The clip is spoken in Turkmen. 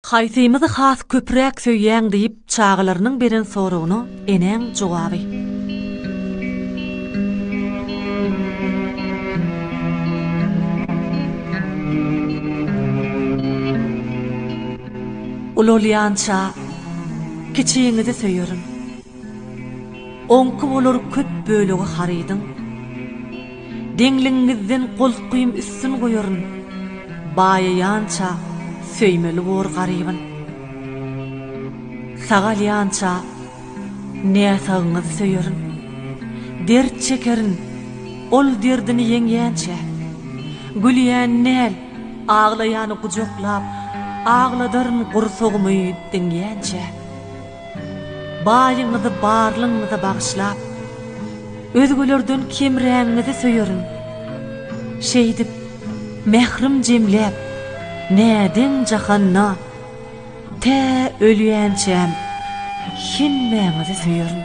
Haýsymyzy has köpräk söýýäň diýip çagalarynyň beren soragyna enäň jogaby. Ulalýança kiçiňizi söýerin. Oňki bolar köp bölegi harydyň. Deňligiňizden golkuým üstün goýaryn, Baýaýança söýmeli bor garybyn. Sag alýança näsagyňyzy söýerin, Dert çekerin, ol derdini ýeňýänçä. Gülýäni däl, aglaýany gujaklap, Agladaryn gursagymy diňýänçä. Baýyňyzy barlygyňyza bagyşlap, özgelerden kemrägiňizi söýerin. Şeýdip, mährim jemläp, nädeň jahanda, tä ölýänçäm hemmäňizi söýerin.